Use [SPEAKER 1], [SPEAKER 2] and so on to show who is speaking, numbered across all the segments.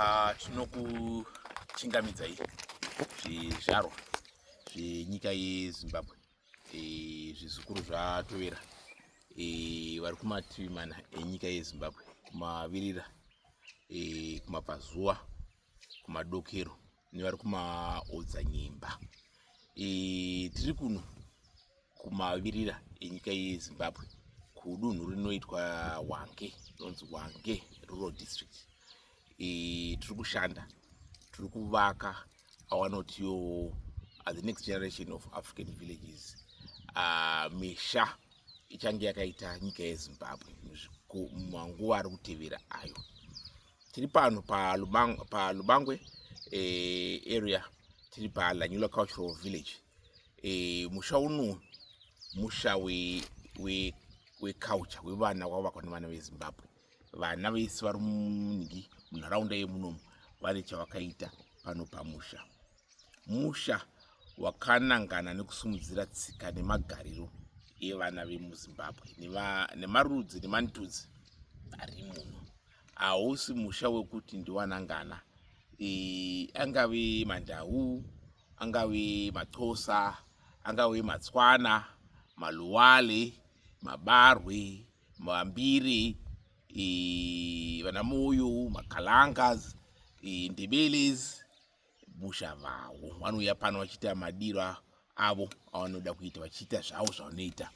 [SPEAKER 1] Ah, tinokuchingamidzai zvizvarwa zvenyika yezimbabwe eh, zvizukuru zvatovera eh, vari kumativi mana enyika yezimbabwe kumavirira eh, kumabvazuva kumadokero nevari kumaodzanyemba e, tiri kuno kumavirira enyika yezimbabwe kudunhu rinoitwa wange rinonzi wange rural district e, tiri kushanda tiri kuvaka awanotiyo uh, the next generation of african villages uh, misha ichange yakaita nyika yezimbabwe manguva ari kutevera ayo tiri pano palubangwe eh, area tiri palanyula cultural village eh, musha uno musha weculture wevana wavakwa nevana vezimbabwe vana vese vari munhingi munharaunda yemunomu vane chavakaita pano pamusha musha wakanangana nekusimudzira tsika nemagariro evana vemuzimbabwe nemarudzi nemantudzi ari muno hausi musha wekuti ndiwanangana e, angave mandau angave matsosa angave matswana maluwale mabarwe mambiri e, vanamoyo makalangas e, ndebeles busha vavo vanouya pano vachiita madiro avo avanoda kuita vachiita zvavo zvavanoita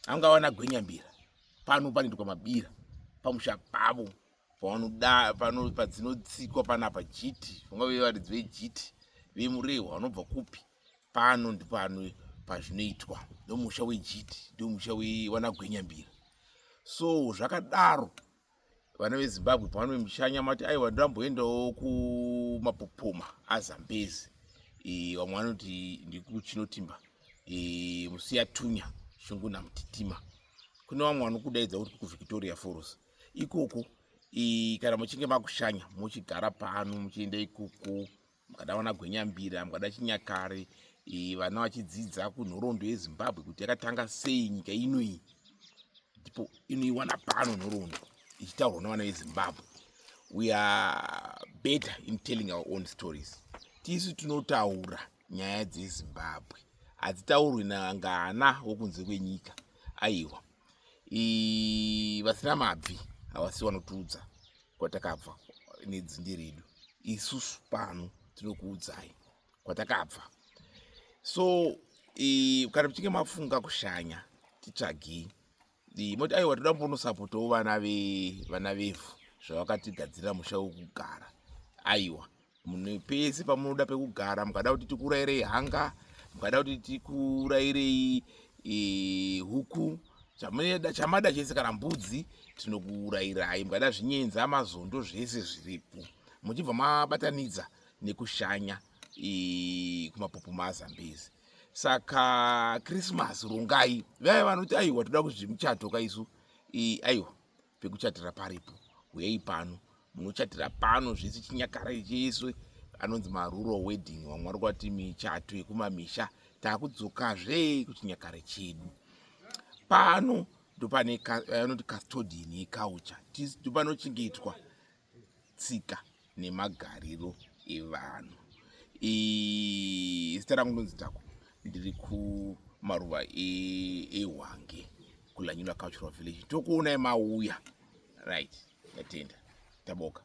[SPEAKER 1] anga vana gwenyambira pano panoitwa mabira pamusha pavo pavanoda padzinotsikwa panapa jiti vangave varidzi vejiti vemurehwa vanobva kupi pano ndipano pazvinoitwa ndomusha wejiti ndomusha wevanagwenyambira so zvakadaro vana vezimbabwe pavanove muchanya mati aiwa ndamboendawo kumapopoma azambezi e, vamwe vanoti ndikuchinotimba e, musiyatunya shungu namutitima kune vamwe vanokudaidza kuti kuvictoria foros ikoko e, kana muchinge makushanya mochigara pano muchienda ikoko mukada vana gwenyambira mukada chinyakare e, vana vachidzidza kunhoroondo yezimbabwe kuti yakatanga sei nyika ino iyi ndipo inoiwana pano nhoroondo ichitaurwa nevana vezimbabwe we are better in telling our own stories tisu tinotaura nyaya dzezimbabwe hadzitaurwi nangana wokunze kwenyika aiwa vasina mabvi havasi vanotiudza kwatakabva nedzinde redu isusu pano tinokuudzai kwatakabva so kana muchinge mafunga kushanya titsvagei moti aiwa toda mbonosapotawo vana vevana vevhu zvavakatigadzirira musha wekugara aiwa Mune pese pamunoda pekugara mukada kuti tikurairei hanga mukada kuti tikurairei e, huku chamada chamada chese kana mbudzi tinokuurairai mukada zvinyenzi amazondo zvese zviripo muchibva mabatanidza nekushanya e, kumapopo mazambezi saka krismas rungai vaya vanoti aiwa toda kuzvimuchato kaisu e, aiwa pekuchatira paripo huyei pano munochatira pano zvese chinyakara chese anonzi marural wedding vamwe vari kwati michato yekumamisha takudzokazve kuchinyakare chedu pano ndopane anoti custodian yecouture ndopanochengetwa tsika nemagariro evanhu zita rangu ndonzi tako ndiri kumaruva ehwange e kulanyula cultural village tokuonai mauya right yatenda taboka